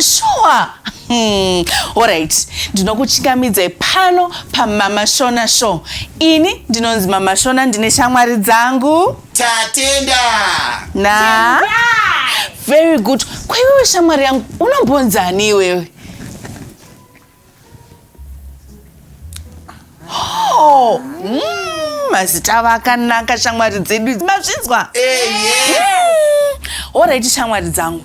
Sure. Hmm. Alright, ndinokuchingamidzai pano pamama Shona show. Ini ndinonzi mama Shona ndine shamwari dzangu. Tatenda. Na. Tenda. Very good. Kwaiwewe shamwari yangu unombonzani iwewe? Oh, mm, mazita avo akanaka shamwari dzedu idzi. mazvinzwa horaiti shamwari dzangu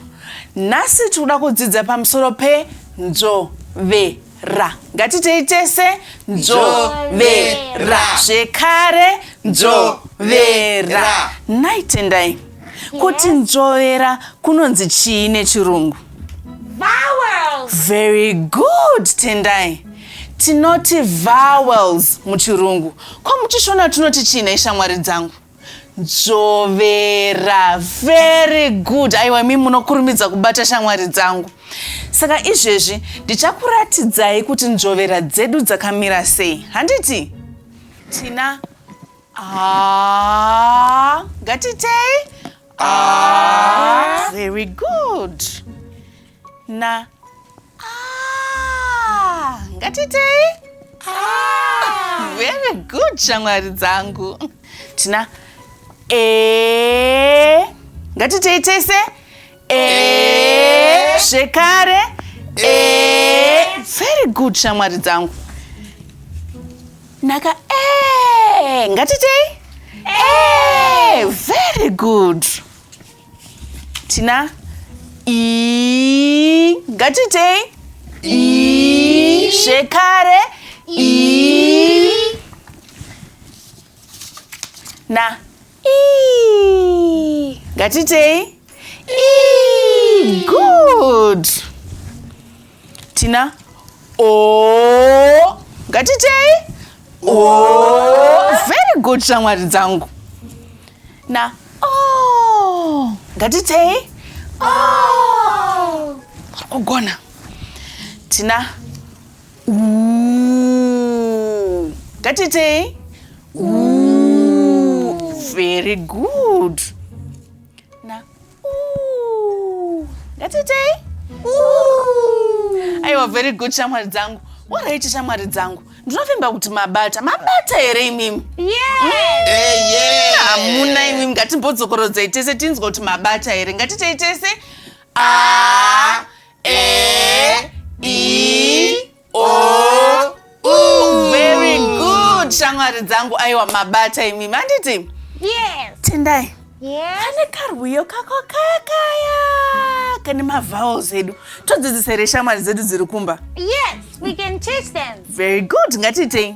nhasi tiri kuda kudzidza pamusoro penzvovera ngatitei tese nzvovera zvekare nzvovera nhai tendai Kuti nzvovera kunonzi chii nechirungu? Vowels. Very good, Tendai. Tinoti vowels muchirungu. Ko muchishona tunoti chii nhai shamwari dzangu? Nzvovera. Very good. Aiwa imi munokurumidza kubata shamwari dzangu. Saka izvezvi ndichakuratidzai kuti nzvovera dzedu dzakamira sei. Handiti? Tina Ah, ngatitei ah, very good na ah, ngatitei ah, very good shamwari dzangu tina e eh, ngatitei tese Eh. zvekare Eh. very good shamwari dzangu naka eh, ngatitei Eh, very good tina i ngatitei i zvekare i na ii ngatitei ii good tina o ngatitei o very good shamwari dzangu na o ngatitei o kugona tina Ooh. Katitei? Ooh. Very good. Na. Ooh. Katitei? Ooh. Aiwa very good shamwari dzangu. Waraiti shamwari dzangu. Ndinovimba kuti mabata. Mabata here imimi? Yeah. Hamuna imimi ngatimbodzokoredzai tese tinzwa kuti mabata here. Ngatitei tese. Ah. A, E, O, U. Very good, shamwari dzangu. Aiwa mabata imi, manditi? Yes. Tendai. Yes. Kane karwiyo kako kakaya kane mavowels edu todzidzisa here shamwari dzedu dziri kumba yes we can teach them very good ngatiitei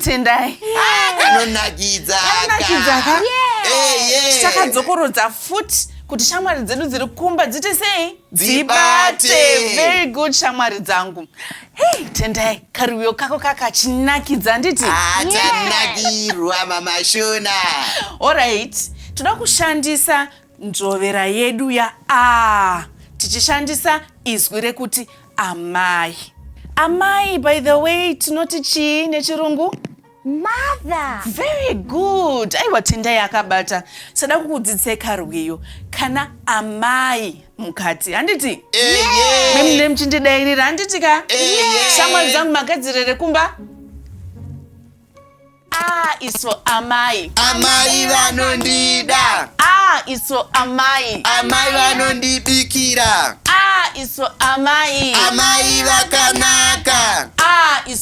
tendai kanonakidza tichakadzokorodza futi kuti shamwari dzedu dziri kumba dziti sei dzibate very good shamwari dzangu hey tendai karuyo kako kakachinakidza nditi atanakirwa ah, mamashona orit toda kushandisa nzvovera yedu ya a tichishandisa izwi rekuti amai amai by the way tinoti chii nechirungu mother very good aiwa tendai akabata sada kukudzidzisai karwiyo kana amai mukati handiti memune muchindidairira handiti ka shamwari dzangu magadzirere kumba a iso amai amai vanondida a iso amai amai vanondibikira a iso amai amai vakanaka a iso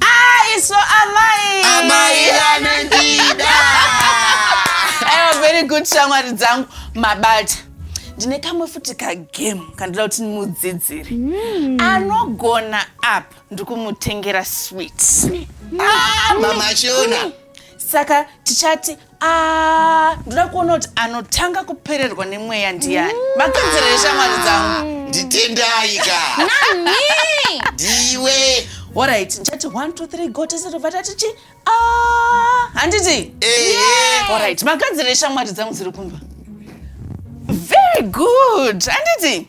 aiso amai amai anondida aiwa very good shamwari dzangu mabata ndine kamwe futi kagame kandida kuti ndimudzidzire mm. anogona apa ndikumutengera swit ah, mama shona saka tichati Ah, ndoda kuona kuti anotanga kupererwa nemweya ndiyani mm. makanzira eshamwari dzangu mm. nditendai ka nani ndiwe orit ndichati 1 2 3 go tese tobva tati chi ah, handiti orit makanzira eshamwari dzangu dziri kumba very good handiti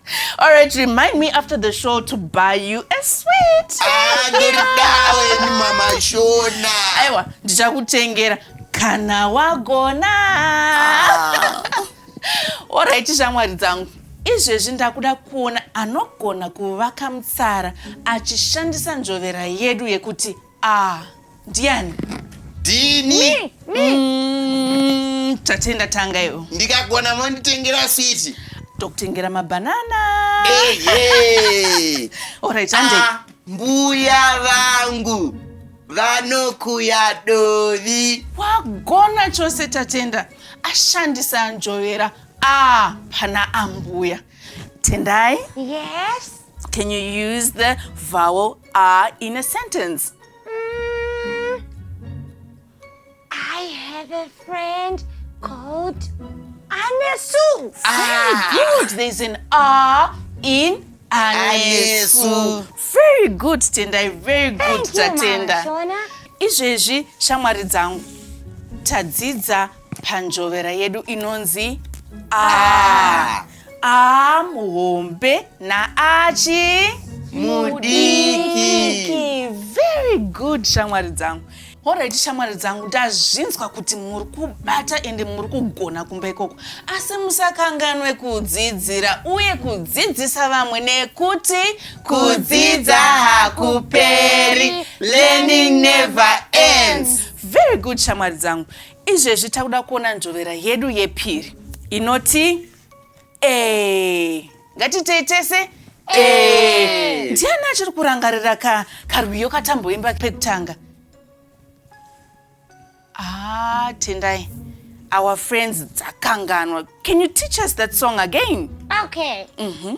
All right, remind me after the show to buy you a sweet. Ah, ndiridawe mama Shona. Aiwa, ndichakutengera kana wagona. Ah. All right, shamwari dzangu. Izvezvi ndakuda kuona anogona kuvaka mutsara achishandisa njovera yedu yekuti Ah, ndiani? Dini. Mm, tatenda tanga iwo. Ndikagona monditengera sweet. Tokutengera mabanana. Hey, hey. All right, handei. Ah, mbuya vangu vanokuya dovi. Wagona chose tatenda. Ashandisa anjovera. Ah, pana ambuya. Tendai. Yes. Can you use the vowel R in a sentence? Mm, I have a friend called Anesu. Ah. Very good. There's an R in Anesu. Very good, Tendai. Very good, Tatenda. Izvezvi shamwari dzangu tadzidza panjovera yedu inonzi a. Ah. Aa muhombe naachi mudiki. Very good shamwari dzangu. Alright shamwari dzangu ndazvinzwa kuti muri kubata ende muri kugona kumba ikoko asi musakanganwe kudzidzira uye kudzidzisa vamwe nekuti kudzidza hakuperi learning never ends very good shamwari dzangu Izvezvi takuda kuona nzvovera yedu yepiri inoti e. Ngatiitei tese e. Ndiani achiri kurangarira ka karwiyo katamboimba pekutanga? Ah, Tendai. Our friends dzakanganwa. Can you teach us that song again? Okay. Mhm. Mm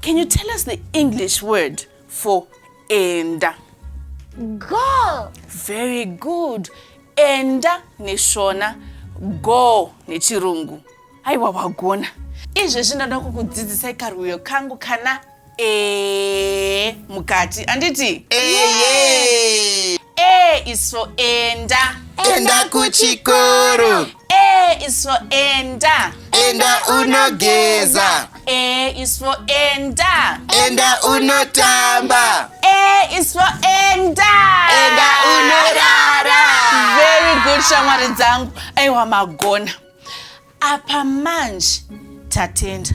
Can you tell us the English word for enda? Go. Very good. Enda neshona, go nechirungu. Aiwa wagona. Izvezvi ndoda kukudzidzisai karwiyo kangu kana e mukati. Anditi? Eye. A is for enda. Enda kuchikoro. A is for enda. Enda unogeza. A is for enda. Enda unotamba. A is for enda. Enda unorara. Very good shamwari dzangu. Aiwa magona. apa manje tatenda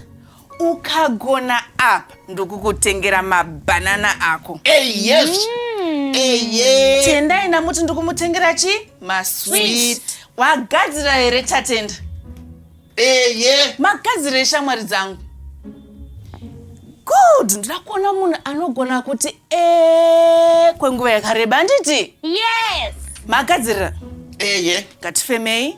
ukagona apa ndokukutengera mabhanana ako hey, yes. mm. hey, yeah. tendai namuti ndikumutengera chi maswit wagadzira here tatenda hey, yeah. magadzira eshamwari dzangu good ndira kuona munhu anogona kuti e kwenguva yakareba handiti yes magadzirira eye ngatifemei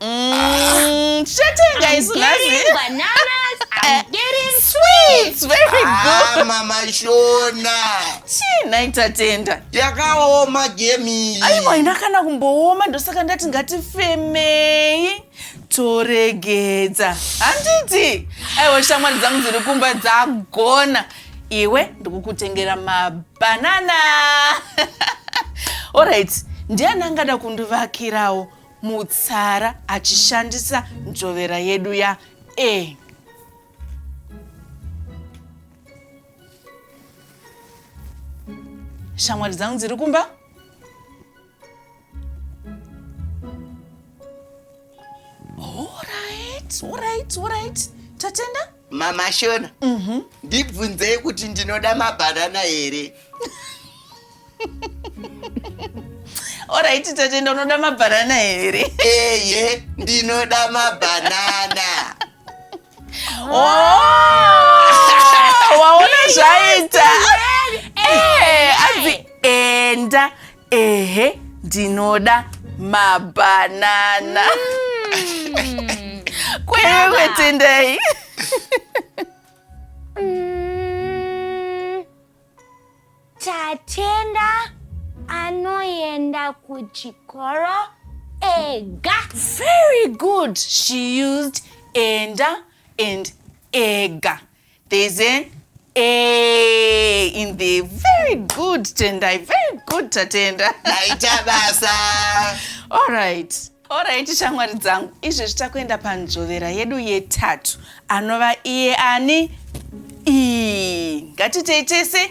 Mm, Shatenga is getting bananas. I'm getting sweets. Very Ah, good. mama shona Chii nhai tatenda? yakaoma gemi Aiwa ina kana kumbooma ndosaka ndati ngatifemei toregedza handiti aiwa shamwari dzangu dziri kumba dzagona iwe ndikukutengera mabhanana orit ndiani angada kundivakirawo mutsara achishandisa nzvovera yedu ya e shamwari dzangu dziri kumba Alright, alright, alright. Tatenda? mama shona mhm. ndibvunzei kuti ndinoda mabhanana here oraiti tate ndonoda mabhanana here eye ndinoda mabhanana oh, waona zvaita eh, anzi enda ehe ndinoda mabhanana kwewe tendai Mm, Tatenda anoenda kuchikoro ega. very good she used enda and ega there's an a in the very good tendai very good tatenda aita basa all right orit shamwari dzangu izvezvi takuenda panzvovera yedu yetatu anova iye ani ii ngatitei tese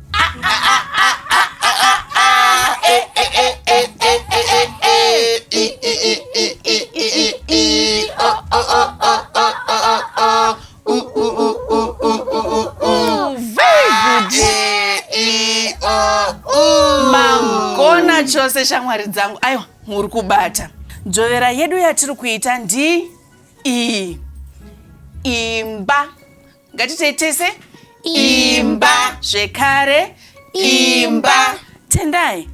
mangona chose shamwari dzangu aiwa muri kubata dzvovera yedu yatiri kuita ndi iyi imba ngatitei tese imba zvekare imba tendai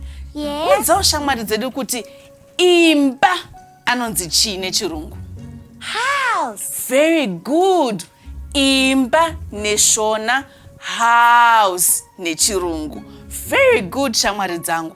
udzawo shamwari dzedu kuti imba anonzi chii nechirungu house very good imba neshona house nechirungu very good shamwari dzangu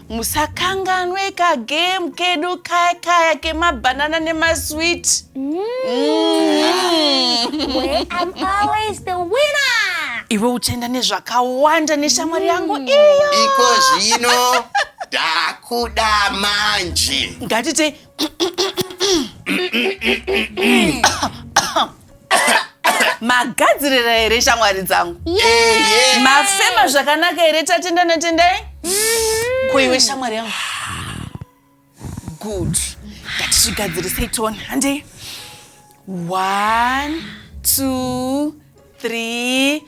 musakanganwe kagame kedu kaya kaya kemabhanana nemaswit mm. mm. iwe uchaenda nezvakawanda neshamwari yangu mm. iyo iko zvino ndakuda manje ngatite magadzirira here shamwari dzangu mafema zvakanaka here tatenda natendai koiwe shamwari yangu good ngatizvigadzirisei tone handei one two three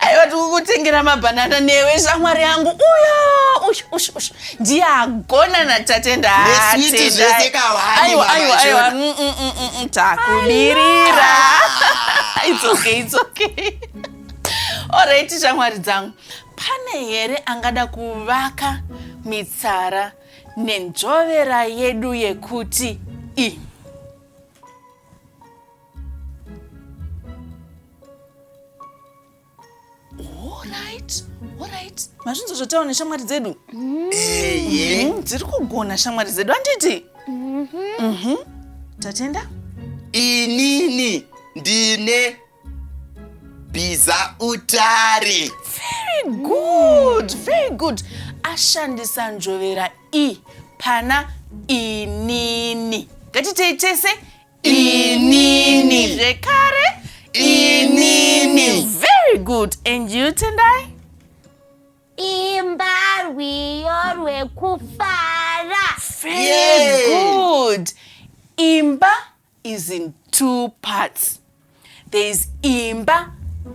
aiwa tikukutengera mabhanana newe shamwari yangu uyo ushu ushu ushu ndiye agona natatenda Neswiti zvese kahwani, aiwa mama aiwa aiwa Jonah. Mm, mm, mm, mm, mm, takubirira it's okay it's okay alright shamwari dzangu pane here angada kuvaka mitsara nenzvovera yedu yekuti i Alright, alright. Mazvinzo zvotawo neshamwari dzedu. Mm-hmm. Eye. Mm-hmm. Dziri kugona shamwari dzedu anditi? Mhm. Mhm. Tatenda? Inini ndine biza utari. Very good. Very good. Ashandisa njovera i pana inini. Ngatitei tese inini zvekare inini very good and you tendai imba rwiyo rwekufara very Yay. good imba is in two parts there is imba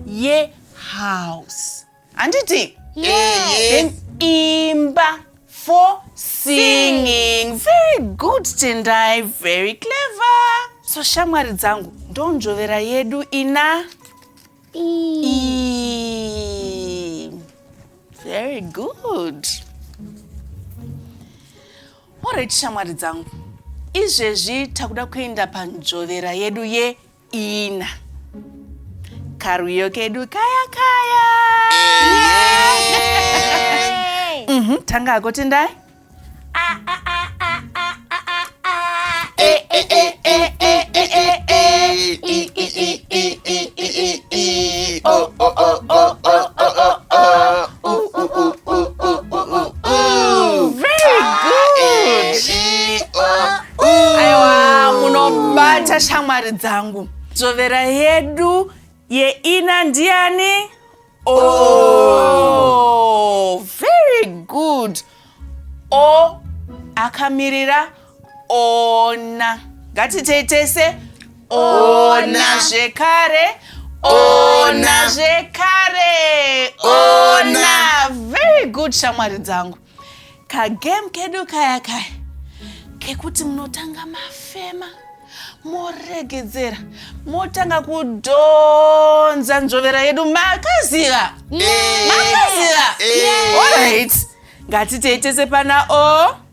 yehouse handiti then imba for singing very good tendai very clever so shamwari dzangu ndonzvovera yedu ina E. Very good. Alright shamwari dzangu, izvezvi takuda kuenda panzvovera yedu yeina. Karuyo kedu kaya kaya. Mhm, tanga hako tendai. aiwa munobata shamwari dzangu dzvovera yedu yeina ndiani oh, very good o akamirira ona ngatiitei tese ona zvekare ona zvekare ona very good shamwari dzangu kagame kedu kaya kaya kekuti munotanga mafema moregedzera motanga kudhonza nzvovera yedu makaziva makaziva olright ngatiteitese pana o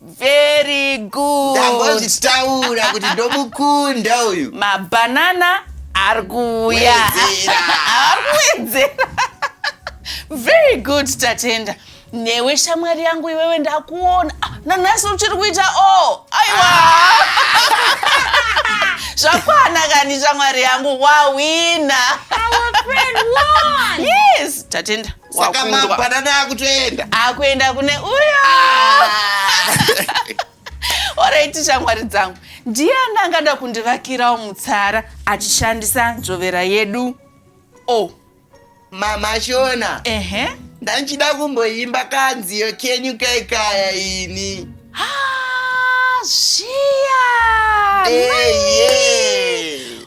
very good ndambozvitaura kuti ndomukunda uyu mabhanana ari kuuya ari kuwedzera very good tatenda newe shamwari yangu iwewe ndakuona ah, nanhasi uchiri kuita o oh, aiwa zvakwana kani shamwari yangu wawina yes tatenda saka Wakundwa. mabhanana akutoenda akuenda kune uyo oraiti shamwari dzangu ndiani angada kundivakirawo mutsara achishandisa nzvovera yedu o mama shona ehe ndanchida kumboimba kanziyo kenyu kaikaya ini Ah, zviya Hey, yeah.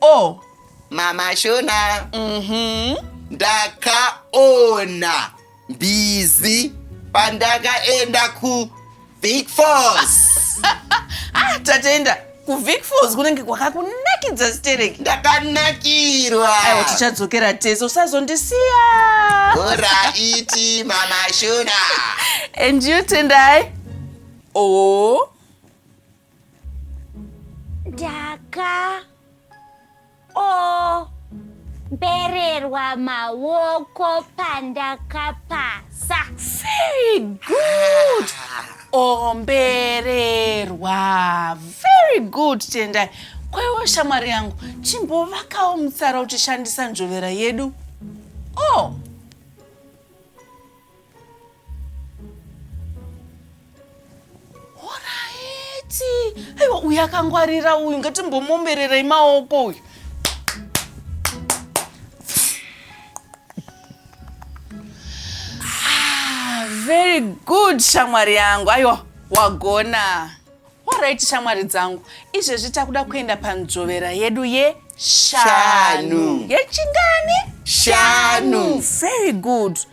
o mama shona mhm ndakaona mbizi pandakaenda ku big falls ah tatenda ku vic falls kunenge kwakakunakidza stereki ndakanakirwa aiwa tichadzokera tese usazondisiya oraiti mama shona and you tendai o Daka o mbererwa maoko pandakapasa. Very good. Ombererwa. Very good Tendai. Kwaiwo shamwari yangu chimbovakawo mutsara uchishandisa nzvovera yedu. Oh. aiwa uyu akangwarira uyu ngatimbomombererei maoko uyu ah, very good shamwari yangu aiwa wagona orit shamwari dzangu izvezvi takuda kuenda panzvovera yedu yeshanu yechingani shanu very good, shanu.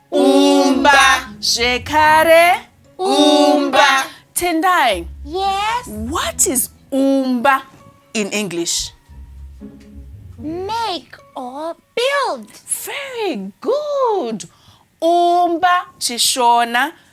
umba zvekare umba tendai yes what is umba in english make or build very good umba chishona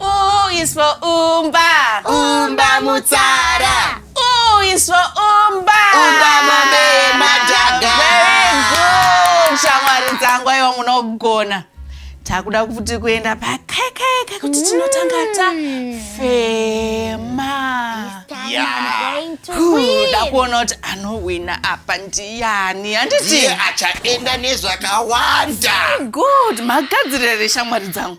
U is for umba. Umba mutsara. U is for umba. Umba mombe madhaga. Very good. Shamwari dzangu aiwa munogona. Takuda kuti kuenda pakekeke kuti mm. tinotanga ta fema. Kuda kuona kuti anowina apa ndiyani handiti achaenda nezvakawanda. Good. Magadzirire shamwari dzangu.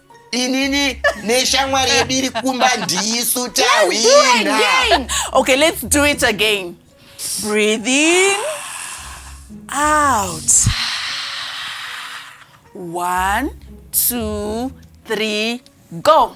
inini neshamwari yedu iri kumba ndisu tahwina okay let's do it again breathe in out one two three go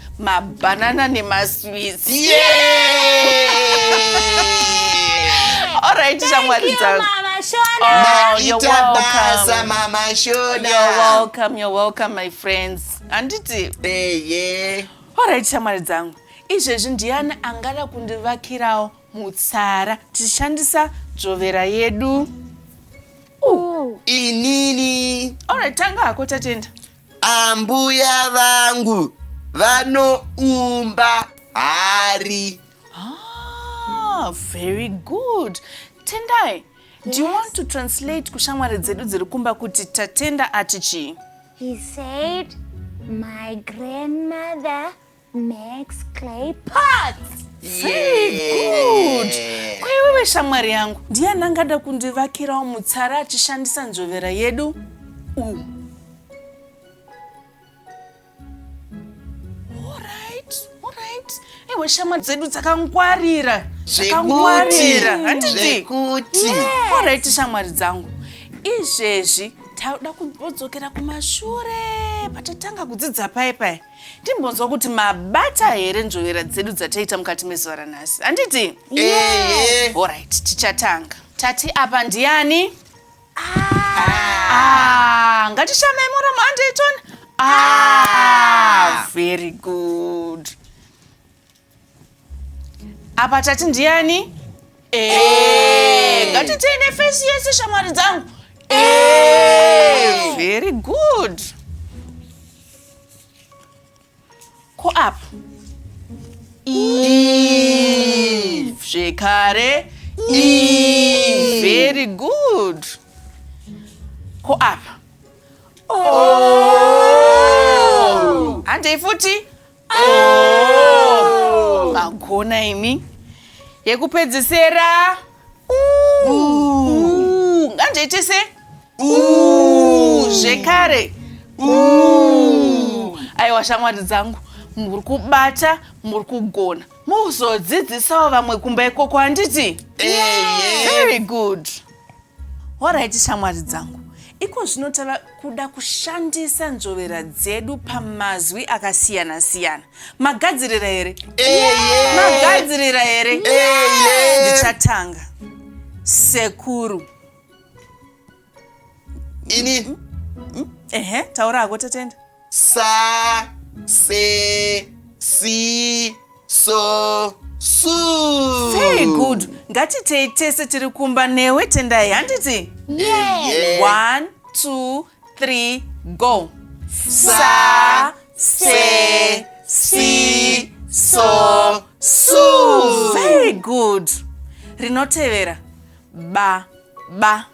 mabanana nemasweets alright shamwari dzangu Oh, you're maita welcome. basa mama You're shona welcome, you're welcome my friends handiti eye alright shamwari dzangu izvezvi ndiyani angada kundivakirawo mutsara tichishandisa dzvovera yedu inini alright tanga hako tatenda Ambuya vangu vanoumba hari. Ah, very good. Tendai, yes. do you want to translate kushamwari dzedu dziri kumba kuti tatenda ati chii? He said, my grandmother Max Clay Parts. Good. Kwaiwewe shamwari yangu ndiani angada kundivakirawo mutsara achishandisa nzvovera yedu u Alright, alright. Ewe shamwari dzedu dzakangwarira zvakangwarira handiti Zvekuti. alright shamwari dzangu izvezvi tauda kumbodzokera kumashure patatanga kudzidza paye paye timbonzwa kuti mabata here nzvovera dzedu dzataita mukati mezuva ranhasi handiti yeah. orit tichatanga tati apa ndiani ah. ah. ngatishamai muramo andeyton ah. ah. very good apa tati ndiani ngatitei nefesi yese shamwari dzangu very good ko apa zvekare very good ko apa handei futi Oh! Magona imi. Yekupedzisera. Nganje tese. Zvekare. Aiwa shamwari dzangu. Muri kubata, muri kugona. Muzodzidzisawo vamwe kumba ikoko handiti? Very good. Horaiti shamwari dzangu, iko zvino tava kuda kushandisa nzvovera dzedu pamazwi akasiyana siyana. Magadzirira here? Magadzirira here? Ndichatanga. Sekuru. Ini. Ehe, taura hako Tatenda. Sa, se, si, so, su. Very good. Ngatitei tese tiri kumba newe Tendai handiti? Yeah. One, two, three, go. Sa, se, si, so, su. Very good. Rinotevera. Ba, ba.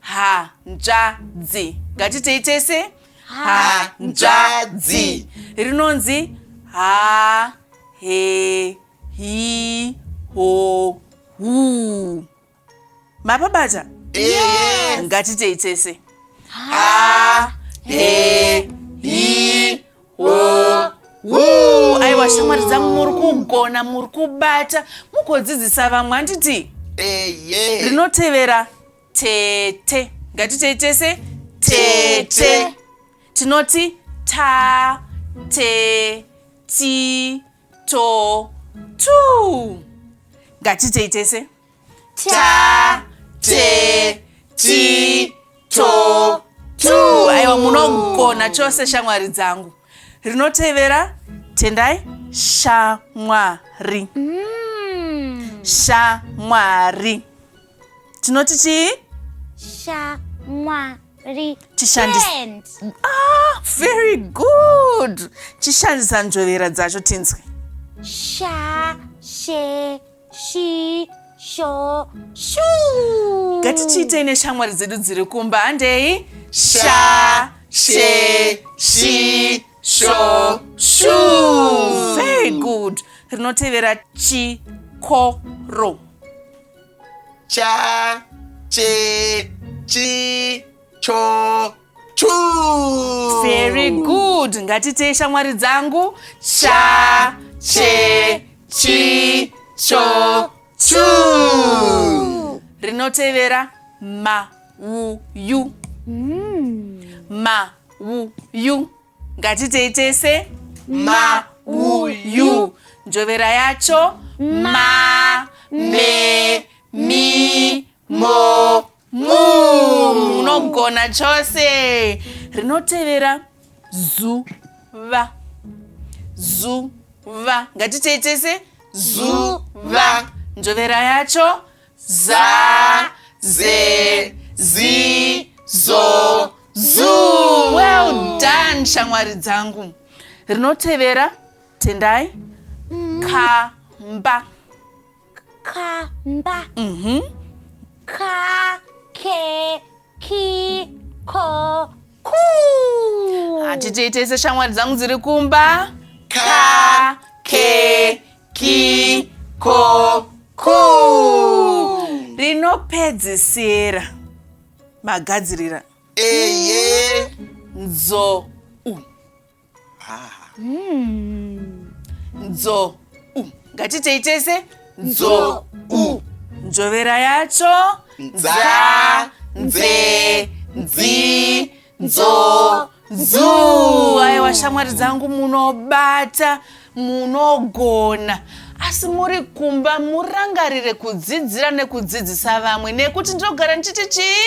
hanzvadzi ngatitei tese hanzvadzi rinonzi ha he hi ho hu mapabata yes. ngatitei tese ha he hi aiwa shamwari dzangu muri kugona muri kubata mugodzidzisa vamwe handiti rinotevera tete ngatitei tese tete tinoti ta te ti to tu ngatitei tese ta te ti to tu aiwa munogona chose shamwari dzangu rinotevera tendai shamwari mm. shamwari tinoti chii shamwari ah, very good chishandisa nzvovera dzacho tinzwe sha she shi sho shuu ngatichiitei neshamwari dzedu dziri kumba handei sha she shi sho shuu very good rinotevera chikoro cha che chi cho Chuu! Very good. Ngatitei shamwari dzangu. Cha, che, chi, cho, chu. Rinotevera ma, u, yu. Ma, u, yu. Ngatitei tese. Ma, u, yu. Njovera yacho. Ma, me, mi, mo mu unogona chose rinotevera zuva zuva ngatitei tese zuva njovera yacho za ze zi zo zu well done shamwari dzangu rinotevera tendai kamba mm. kamba mhm ka ke ki ko ku hatiteitese shamwari dzangu dziri kumba ka ke ki ko ku rinopedzisira magadzirira eye nzou Hmm. nzo u ngatitei tese nzo u njovera yacho nza nze nzi nzo zuu aiwa shamwari dzangu munobata munogona asi muri kumba murangarire kudzidzira nekudzidzisa vamwe nekuti ndinogara ndichiti chii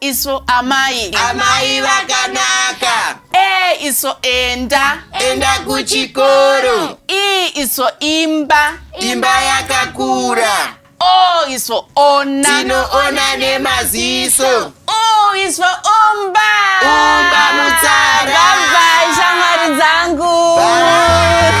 isu amai amai vakanaka e isu enda enda kuchikoro i isu imba imba yakakura o isu ona tinoona nemaziso o isu umba umba mutsara bye shamwari dzangu Bye.